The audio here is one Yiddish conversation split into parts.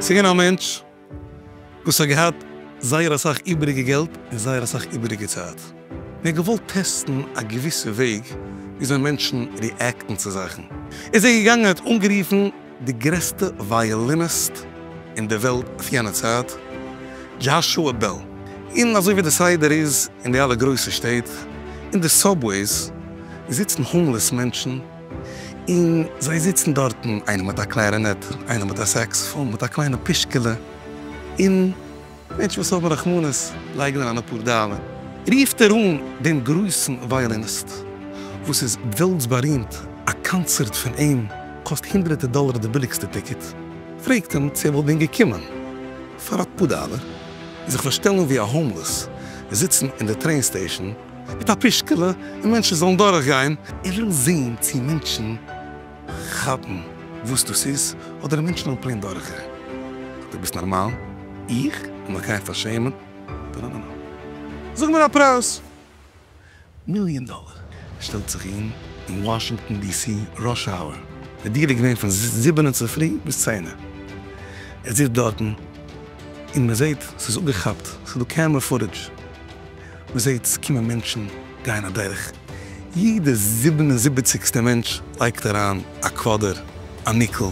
ס'איז געווען א מענטש וואס האט געהאט זייער אסאך איבעריגע געלט און זייער אסאך איבעריגע צייט, און ער האט געוואלט טעסטן א געוויסע וועג וויאזוי מענטשן ריעקטן צו זאכן, ער איז זיי געגאנגען און ער האט אנגערופן, די גרעסטע ווייאליניסט אין די וועלט אויף יענע צייט, דזשאשוע בעל, און אזוי ווי די סדר איז אין די אלע גרויסע שטעט, אין די סאבוועיס זיצן האומלעס מענטשן, און זיי זיצן דארטן איינער מיט א קלערינעט, איינער מיט א סעקסאפאן מיט א קליינע פישקעלע, און. מענטשן וואס האבן רחמנות לייגן אריין אפאר דאלער, רופט ער אן דעם גרויסן ווייאליניסט וואס איז וועלטס בארימט, א קאנצערט פון אים קאסט הונדרעטער דאלער די ביליגסטע טיקעט, פרעגט אים צו ער וואלט ווען געקומען פאר אפאר דאלער זיך פארשטעלן ווי א האומלעס, זיצן אין די טרעין סטעישאן מיט א פושקעלע און מענטשן זאלן דורכגיין, ער וויל זען צו מענטשן כאפן וואס דאס איז, אדער מענטשן האבן פלעין דורכער? דו ביסט נארמאל? איך זאל מיך גיין פארשעמען? טאנאנאנא. זאג מיר א פרייז! מיליאן דאלער! שטעלט זיך אהן אין וואשינגטאן די סי ראש האוער, די דירה איז געווען פון זיבענע צופרי ביז צענע, ער זיצט דארטן און מען זעהט ס'איז אפגעכאפט, ס'איז דא קעמרע פוטעדזש, מ'זעט ס'קומען מענטשן גייען אדורך, יעדע זיבן און זיבעציגסטע מענטש לייגט אריין א קוואדער, א ניקל,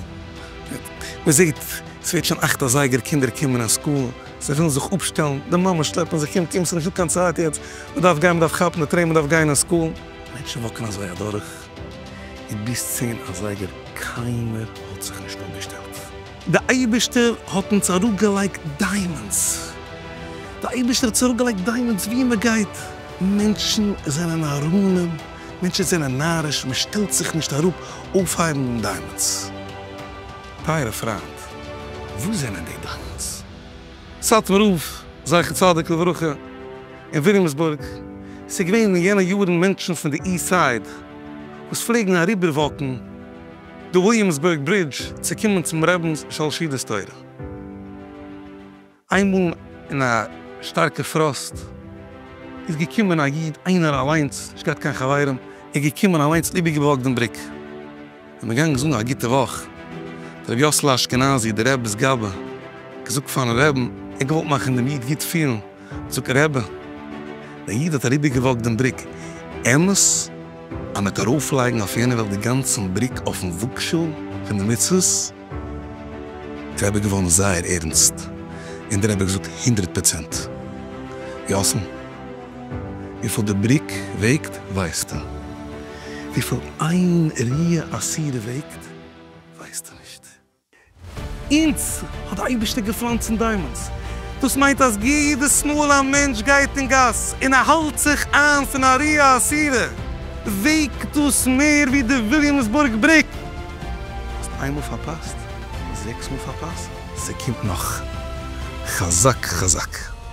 מ'זעט ס'ווערט שוין אכט אזייגער קינדער קומען אין סקול, זיי ווילן זיך אפשטעלן, די מאמעס שלעפן זיך, קום קום ס'נישטא קיין צייט יעצט, מ'דארף גיין מ'דארף כאפן די טרעין מ'דארף גיין אין סקול, מענטשן וואקן אזוי אדורך, און ביז צען אזייגער קיינער האט זיך נישט אפגעשטעלט. די אייבישטער האט אונז אראפ געלייגט דיימאנדס, די אייבישטער האט אונז אראפ געלייגט דיימאנדס ווי מען גייט, מענטשן זענען נאראנים, מענטשן זענען נאריש, מען שטעלט זיך נישט אראפ אויפהייבן אן דיימאנדס. טייערע פריינט, וואס זענען די דיימאנדס? סאטמאר רב זכר צדיק לברכה אין וויליאמסבורג, ס'איז געווען אין יענע יארן מענטשן פון די איסט סייד וואס פלעגן אריבער וואקן, די וויליאמסבורג ברידזש צו קומען צום רבינ'ס שלשידעס תורה. איינמאל אין א שטארקע פראסט איז געקומען א איד איינער אליינס נישט געהאט קיין חברים איז געקומען אליינס און איבערגעבלאקט דעם בריק און איז געגאנגען זאגן א גוטע וואך ר' יאסל אשכנזי דער רבינ'ס גאבע געזאגט פארן רבין ער האט געוואלט מאכן דעם איד גוט פילן. זאגט דער רבי, דער איד האט אריבערגעוואקט דעם בריק, אמת אז מיט ארויפלייגן אויף יענע וועלט די גאנצן בריק אויפן וואגשאל פון די מצוות איז דער רבי געווארן זייער ערנסט, און דער רבי האט געזאגט הונדרעט פראצענט יאסל, וויפיל די בריק וועגט ווייסטו, וויפיל איין ריאה אסירה וועגט ווייסטו נישט. אונז האט די אייבערשטער געפלאנצט אין דיימאנס, דאס מיינט אז יעדעס מאל א מענטש גייט אין גאס און ער האלט זיך איין פון א רעה אסירה וועגט דאס מער ווי די וויליאמסבורג בריק, האסט איינמאל פארפאסט, זעקס מאל פארפאסט. ס'קומט נאך. חזק חזק.